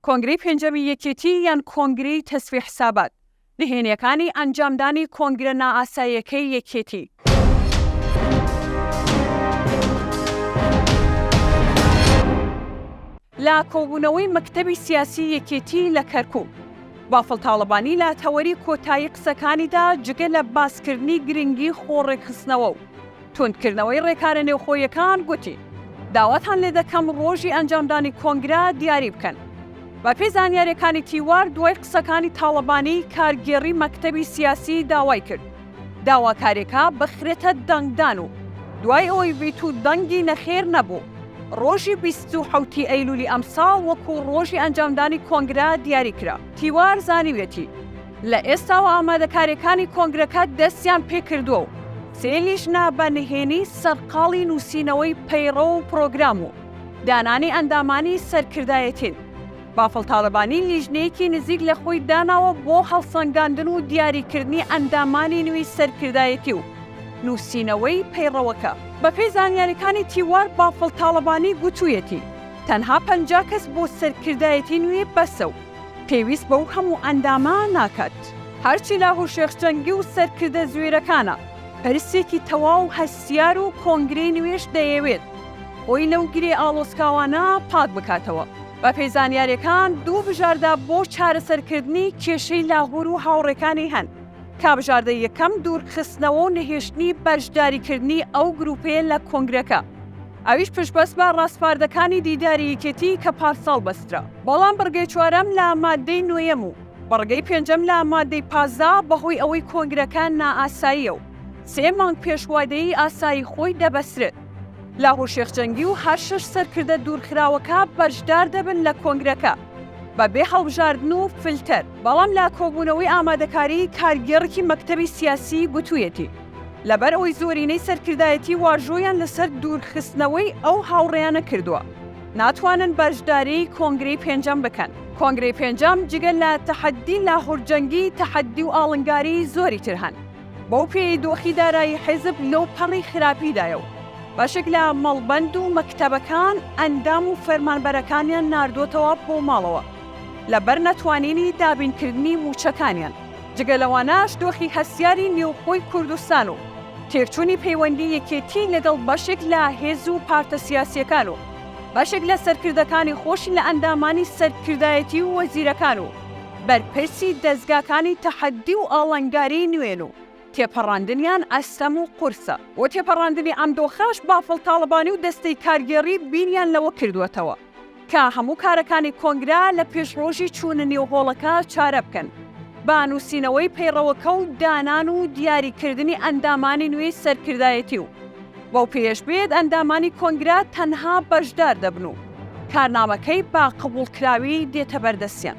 کۆنگرەی پێنجەمی یەکێتی یان کۆنگرەی تەسفی حسابات نهێنیەکانی ئەنجامدانی کۆنگرە نائاساییەکەی یەکێتی. لە کۆبوونەوەی مەکتەبی سیاسی یەکێتی لە کەرکوک، بافڵ تاڵەبانی لە تەوەری کۆتایی قسەکانیدا جگە لە باسکردنی گرنگی خۆڕێکخستنەوە و، توندکردنەوەی ڕێکارە نێوخۆییەکان گوتی، داواتان لێدەکەم ڕۆژی ئەنجامدانی کۆنگرە دیاری بکەن. بەپێی زانیارییەکانی تیوار، دوای قسەکانی تاڵەبانی، کارگێڕی مەکتەبی سیاسی داوای کرد داواکارییەکە بخرێتە دەنگدان و دوای ئەوەی ڤیتو دەنگی نەخێر نەبوو، ڕۆژی بیست و حەوت ی ئەیلولی ئەمساڵ وەکو ڕۆژی ئەنجامدانی کۆنگرە دیاری کرا. تیوار زانیویەتی، لە ئێستاوە ئامادەکارییەکانی کۆنگرەکە دەستیان پێکردووە و سێ لیژنە بە نهێنی سەرقاڵی نووسینەوەی پەیڕەو و پرۆگرام و دانانی ئەندامانی سەرکردایەتین. بافڵ تاڵەبانی لیژنەیەکی نزیک لە خۆی داناوە بۆ هەڵسەنگاندن و دیاریکردنی ئەندامانی نوێی سەرکردایەتی و نووسینەوەی پەیڕەوەکە. بەپێی زانیارییەکانی تیوار، بافڵ تاڵەبانی گوتوویەتی، تەنها پەنجا کەس بۆ سەرکردایەتی نوێ بەسە و، پێویست بەو هەموو ئەندامە ناکات. هەرچی لاهور شێخ جەنگی و سەرکردە زوێرەکانە، پرسێکی تەواو هەستیار و کۆنگرەی نوێش دەیەوێت خۆی لەو گرێ ئاڵۆسکاوانە پاک بکاتەوە. بەپێی زانیاریەکان دوو بژاردە بۆ چارەسەرکردنی کێشەی لاهور و هاوڕێکانی هەن کە بژاردەی یەکەم دوورخستنەوە و نەهێشتنی بەشداریکردنی ئەو گروپەیە لە کۆنگرەکە، ئەویش پشتبەست بە ڕاسپاردەکانی دیداری یەکێتی کە پارساڵ بەسترا. بەڵام بڕگەی چوارەم لە ماددەی نۆیەم و بڕگەی پێنجەم لە ماددەی پازدە بەهۆی ئەوەی کۆنگرەکە نائاساییە و سێ مانگ پێش وادەی ئاسایی خۆی دەبەسرێت، لاهور شێخ جەنگی و هەر شەش سەرکردە دوورخراوەکە بەشدار دەبن لە کۆنگرەکە بە بێ هەڵبژاردن و فلتەر. بەڵام لە کۆبوونەوەی ئامادەکاری کارگێڕکی مەکتەبی سیاسی گوتوویەتی، لەبەر ئەوەی زۆرینەی سەرکردایەتی واژۆیان لەسەر دوورخستنەوەی ئەو هاوڕێیانە کردووە ناتوانن بەشداری کۆنگرەی پێنجەم بکەن. کۆنگرەی پێنجەم جگە لە تەحەددی لاهور جەنگی تەحەددی و ئاڵنگاری زۆری تر هەن. بەو پێیەی دۆخی دارایی حیزب لەو پەڕی خراپیدایە و بەشێک لە مەڵبەند و مەکتەبەکان ئەندام و فەرمانبەرەکانیان ناردۆتەوە بۆ ماڵەوە لەبەر نەتوانینی دابینکردنی مووچەکانیان. جگە لەوانەش دۆخی هەستیاری نێوخۆی کوردستان و تێکچوونی پەیوەندی یەکێتی لەگەڵ بەشێک لە هێز و پارتە سیاسییەکان و بەشێک لە سەرکردەکانی خۆشی لە ئەندامانی سەرکردایەتی و وەزیرەکان و بەرپرسی دەزگاکانی تەحەدی و ئاڵنگاریی نوێن و تێپەڕاندنیان ئەستەم و قورسە. بۆ تێپەڕاندنی ئەم دۆخەش بافڵ تاڵەبانی و دەستەی کارگێڕی بیریان لەوە کردووەتەوە، کە هەموو کارەکانی کۆنگرە لە پێش ڕۆژی چوونە نێو هۆڵەکە چارە بکەن بە نووسینەوەی پەیڕەوەکە و دانان و دیاریکردنی ئەندامانی نوێی سەرکردایەتی و بەو پێیەش بێت ئەندامانی کۆنگرە تەنها بەشدار دەبن و کارنامەکەی بە قبوڵکراوی دێتە بەردەستیان.